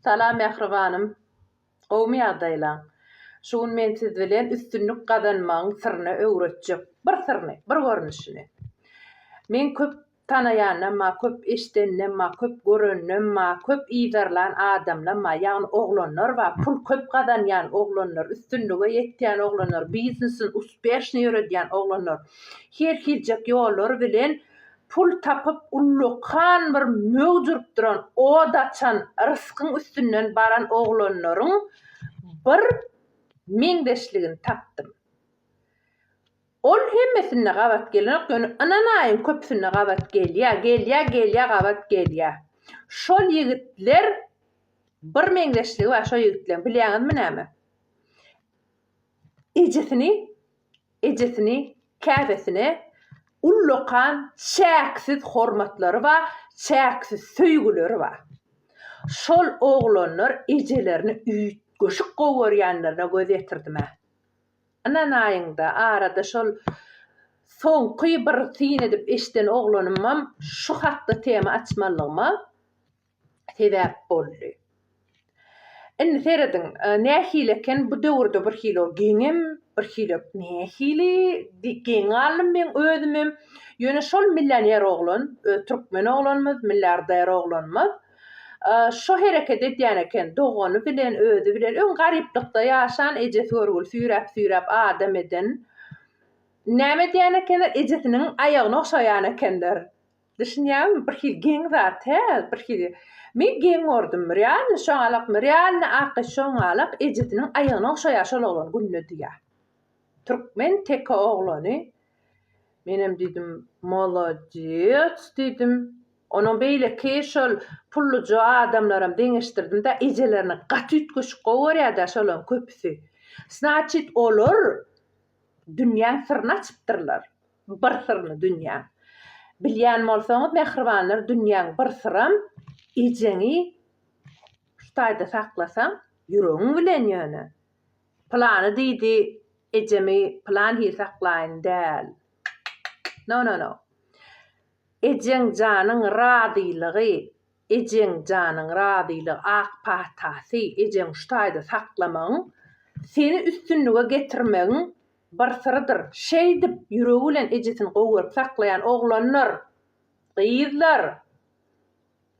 Salam mähribanym. Gowmy ýagdaýlaň? Şu gün men siz bilen üstünlik gazanmagyň syryny öwretjek. Bir syryny, bir görnüşini. Meň köp tanaýanam bar, köp eşideninem bar, köp göreninem bar, köp yzarlan adamlam bar. Ýagny oglanlar bar, pul köp gazanýan oglanlar, üstünlige ýetýän oglanlar, biznesini uspeşnyý ýöredýän oglanlar. Her hiljek ýollar bilen Pul tapyp ullakan bir möwç urupdyran, ot açan, ryskyň üstünden baran oglanlaryň bir meňzeşligini tapdym. Ol hemmesinde gabat gelenok, ýöne ynanaýyň köpüsinde gabat gelýär, gelýär, gelýär, gabat gelýär. Şol ýigitler bir meňzeşligi bar şo ýigitleň, bilýäňizmi näme? Ejesini, ejesini, käbesine ullakan çäksiz hormatlary ba, çäksiz söýgüleri ba. Şol oglanlar ejelerini üýtgeşik gowy görýänlerine göz ýetirdim-ä. Ynanaýyň-da, arada şol soňky bir syn edip eşiden oglanymam şu hakda tema açmalygyma. sebäp boldy. Indi serediň, nähili eken bu döwürde birhili ol geňem, birhili nähili geň galdym men özümem. Ýöne şol millioner oglan, öz türkmen oglanymyz, milliarder oglanymyz şo hereket edýän eken, dogany bilen, özi bilen, öň garyplykda ýaşan, ejesi görgüli süýräp-süýräp adam eden. Näme edýän ekenler, ejesiniň aýagyny ogşaýan ekenler. Düşünýäňmi bir hili geň zat hä bir hili Men geň gordum realny şoňalakmy realny aky şoňalak ejesiniň aýagyny ogşaýa şol oglan günde diýä Türkmen teke oglany Menem diýdim molodec diýdim Onuň beýleki şol pulluja adamlaram deňeşdirdimdä ejelerini gaty üýtgeşik gowy görýädä şolaryň köpüsi Snaçit olar Dünýäň syryny açypdyrlar. Bir syryny dünýäň. Bilýän bolsaňyz mähribanlar dünýäň bir syram ejeňi şu taýda saklasaň ýüregiň bilen ýöne pylany diýdi ejemi pylan hili saklaýyn däl no no no ejeň janyň razylygy Ejeň janyň razylygy ak patasy ejeň şu taýda saklamagyň seni üstünlige getirmegiň bir syrydyr. Şeýdip ýüregi bilen ejesini gowy görüp saklaýan oglanlar, gyzlar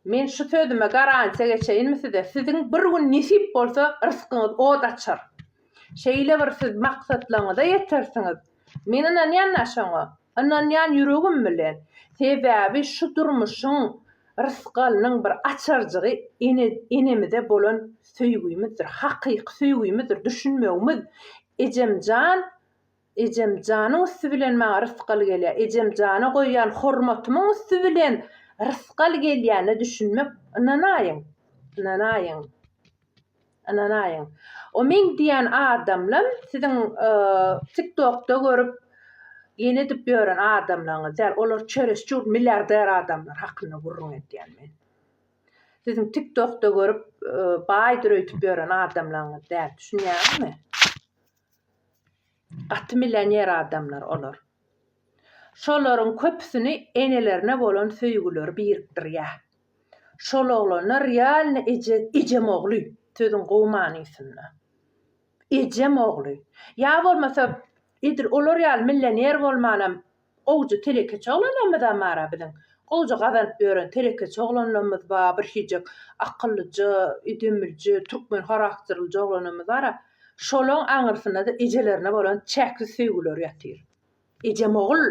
men şu sözüme garantiýa geçeýinmi size siziň bir gün nesip bolsa ryskyňyz ot açar. Şeýle bir siz maksatlaryňyza ýetersiňiz. Men ynanýan-da şoňa. Ynanýan ýüregim bilen. Sebäbi şu durmuşyň rysgalynyň bir açarjygy ene enemize bolan söýgimizdir, hakyky söýgimizdir, düşünmegimiz. Ejemjan Ejemjanyň üsti bilen maňa rysgal gelýär. Ejemjana goýýan hormatymyň üsti bilen rysgal gelýäne düşünmek ynanaýyň, ynanaýyň. Ynanaýyň. O Ming diýen adamlam siziň tiktokda görüp ýene edip ýören adamlaryňyz däl. Olar çöreş çur milliarder adamlar hakynda gürrüň edýän men. Siziň tiktokda görüp baýdyr öýtüp ýören adamlaryňyz däl. Düşünýäňizmi? Gaty millioner adamlar olar. Şolaryň köpüsini enelerine bolan söýgüleri birikdirýär. Şol oglanlar realny eje ejem ogly, sözüň gowy manysynda. Ejem ogly. Ýa bolmasa edil olar ýaly milloner bolmanam gowja telekeçi oglanlarymyzam bar-a biziň. Gowja gazanyp ýören telekeçi oglanlarymyz bar, birhijek akyllyja, edemlije, türkmen harakterlije oglanlarymyz bar-a. Şolaň aňyrsynda-da ejelerine bolan çäksiz söýgüleri ýatyr. Ejemogul!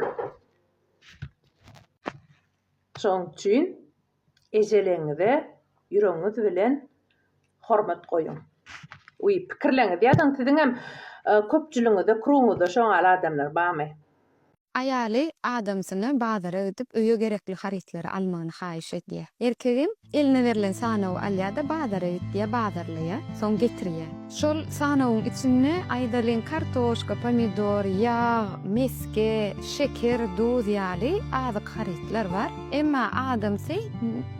Şonuň üçin ejeleňize ýüregiňiz bilen hormat goýuň. Uý, pikirleňiz ýazyň, siziňem köpçüligiňizde, krugyňyzda şo ýaly adamlar barmy? Aýaly adamsyna bazara gidip öýe gerekli harytlary almagyny haýyş edýär. Erkegem eline berlen sanawy alýar-da bazara git diýýär, bazarlaýar, soň getirýär. Şol sanawyň içinde, aýdalyň, kartoşka, pomidor, ýag, mesge, şeker, duz ýaly azyk harytlar bar. Emma adamsy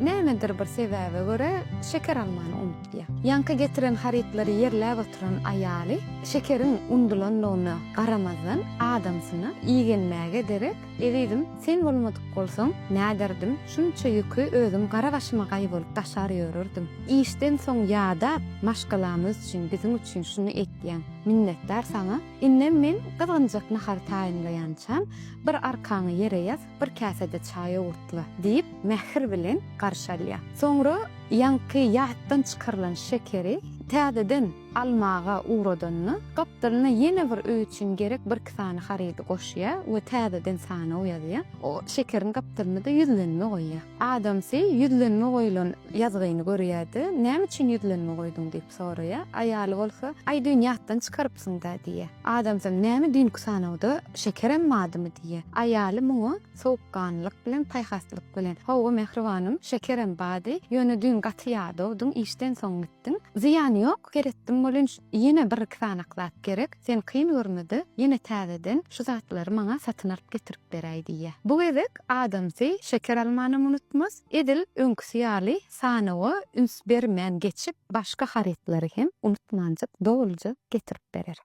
nämedir bir sebäbe görä şeker almany unutýar. diýýär. Ýaňky getiren harytlary ýerläp oturan aýaly şekeriň undulandygyna garamazdan adamsyna igenmäge derek, Ezizim, sen bolmadyk bolsaň, näderdim, şunça ýüki özüm gara başyma gaý bolup daşar ýörerdim. Işden soň ýadap, maşgalamyz üçin, biziň üçin şuny etýäň. Minnetdar saňa. Indem men gyzgynjak nahary taýynlaýançam, bir arkaňy ýere ýaz, Bir käse-de çaý owurtla, diýip, mähir bilen garşy alýar. Soňra ýaňky ýatdan çykarylan şekeri täzeden almaga ugradanda, gapdalyna ýene bir öý üçin gerek birki sany harydy goşýar we täzeden sanaw ýazýar. O şekeriň gapdalyna-da ýüzlenme goýýar. Adamsy ýüzlenme goýlan ýazgyny görýär-de, Näme üçin ýüzlenme goýduň? diýip soraýar. Aýaly bolsa, Aý, düýn ýatdan çykarypsyň-da, diýýär. Adamsyn, näme düýnki sanawda Şekerem badymy diýýä? Aýaly muňa sowukganlylyk bilen, paýhaslyk bilen, Hawa, mähribanym, Şekerem bady, ýöne düýn gaty ýadawdyň, işden soň gitdiň. Zyýany ýok, seretdim bolunç, ýene bir-iki sanak zat gerek, sen kyn görme-de, ýene täzeden şu zatlary maňa satyn alyp getirip beräý diýýä. Bu gezek adamsy Şeker almanam unutmaz, edil öňküsi ýaly Sanawa üns bermän geçip, başga harytlary hem unutmanjyk doluja getirip berer.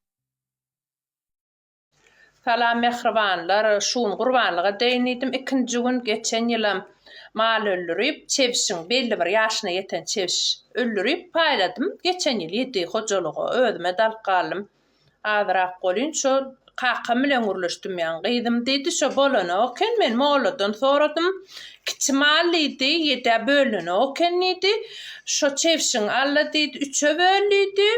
Salam mähribanlar, şu gün gurbanlyga deýin diýdim ikinji gün, geçen ýylam mal öldürip, çebşiň belli bir ýaşyna ýeten çebş öldürip paýladym, geçen ýyl ýedi hojalyga, özüm-ä dalyk galdym. Azyrak bolýyn şol, kakam bilen gürleşdim ýaňy. Gyzym diýdi, şo bolanok eken, men molladan soradym. Kiçi mal diýdi, ýedä bölünenok eken diýdi. Şo çebşiň alla diýdi, üçe böl diýdi.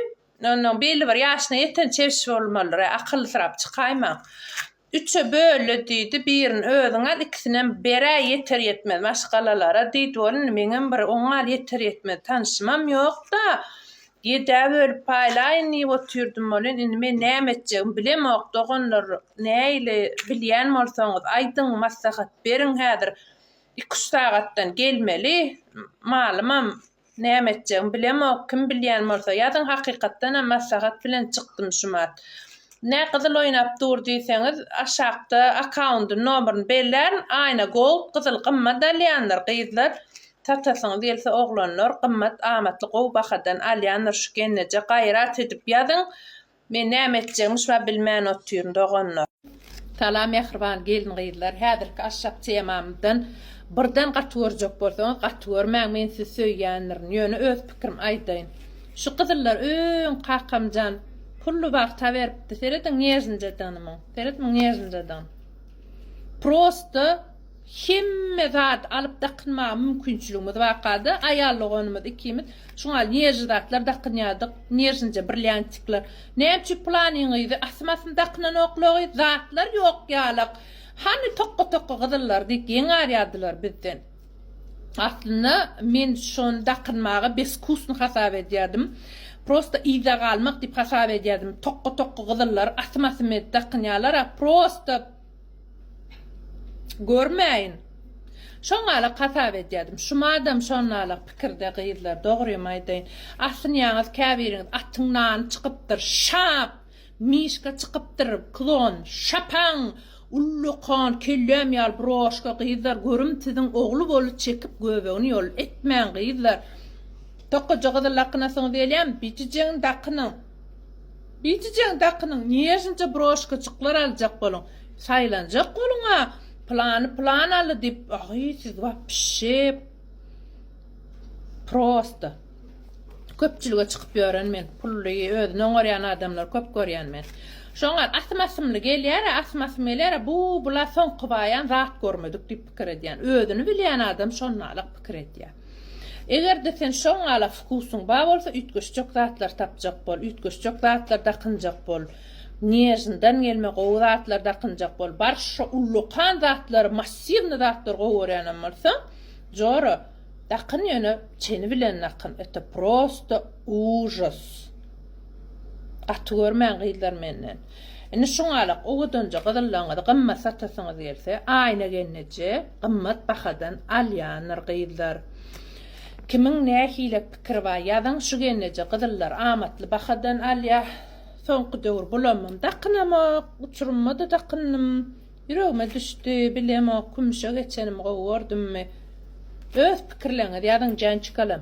Onnoň belli bir ýaşyna ýeten çebş bolmalyr-ä, akyllysyrap çykaýmaň. Üçe böl-le, diýdi, birini özüň al, ikisinem ber-ä, ýeter-ýetmez maşgalalara, diýdi. Bolundy, meňem bir oň al, ýeter-ýetmez tanşymam ýok-da, ýed-ä bölüp paýlaýyn diýip otyrdym welin, indi men näme etjegimi bilemok, doganlar, nähili, bilýän bolsaňyz, aýdyň, maslahat beriň, häzir iki-üç sagatdan gelmeli, malymam Näme etjegim bilemok, kim bilýän bolsa, ýazyň hakykatdanam maslahat bilen çykdym şumat. Nä gyzyl oýnap dur diýseňiz, aşakda akkaundyny nomerini bellärin, aýna gold, gyzyl gymmat alýandyr, gyzlar, satasyňyz gelse oglanlar, gymmat amatly gowy bahadan alýandyr şu genneje gaýrat edip ýazyň, Men näme etjegmişba bilmän otyryn doganlar. Salam mähriban gelin gyzlar häzirki aşak temamyzdan birden gaty görjek bolsaňyz gaty görmäň men sizi söýýändirin ýöne öz pikirim aýdaýyn şu gyzyllar öň kakamjan pully wagta beripdi serediň nježnjadygny muň seredmiň nježnjadygny prosta Hemme zady alyp dakynmaga mümkinçiligimiz barkady. Aýal doganymyz ikimiz şuňa nježli zatlar dakynýardyk, nježnje brilýantikler. Näme üçin pylanyň gyzy asym-asym dakynanoklogy, zatlar ýok ýalak. Hany tokga-tokga gyzyllar diýip geňärýärdiler bizden. Aslynda men şony dakynmaga beskusny hasap edýärdim. Prosta yza galmak diýip hasap edýärdim. Tokga-tokga gyzyllar asym-asym edip dakynýarlar-a, prosta. Görmäýin. Şoňalak hasap edýärdim. Şumadam şonalak pikirde gyzlar, dogrymy aýdaýyn. Asynýaňyz käbiriňiz atyň nany çykypdyr, şap! Mişka çykypdyr, klon, şapaň! Ullakan, kelläm ýaly broşka gyzlar, görüm siziň ogly boly çekip göbegini ýol etmäň gyzlar. Tokaja gyzyl dakynasyňyz gelýämi? Bijijegini dakynyň. Biçijegini dakynyň, nježniçe broşkajyklar aljak boluň. Saýlanjak boluň-a, plany plan aldy diýip, aý, siz wapşe prosta. Köpçülige çykyp ýören men, pully, özüni oňarýan adamlary köp görýän men. Şoňa asym-asymly gelýär-ä, asym-asym gelýär-ä, bu, bula soňky baýan zat görmedik diýip pikir edýän. Özüni bilýän adam şonnalyk pikir edýär. Eger-de sen şo ňala wkusyň bar bolsa, üýtgeşjek zatlar tapjak bol, üýtgeşjek zatlar dakynjak bol, Nježnydan gelme gowy zatlar dakynjak bol, barş şo ullakan zatlary, massiwny zatlary gowy görýänem bolsaň, jora, dakyn ýöne çeni bilen dakyn, eto prosto ujos. Gaty görmäň gyzlar menden. Indi şuňalak owadanja gyzyllaryňyzy gymmat satasyňyz gelse, Aýna gelneje gymmat bahadan alýandyr gyzlar. Kimiň nähile pikiri bar ýazyň, şu gelneje gyzyllar amatly bahadan alýa. Soňky döwür bulamam dakynamok, uçurymymada dakyndym. Ýüregime düşdi, bilemok, kümüşe geçenimi gowy gördümmi. Öz pikirleriňizi ýazyň jançkalam.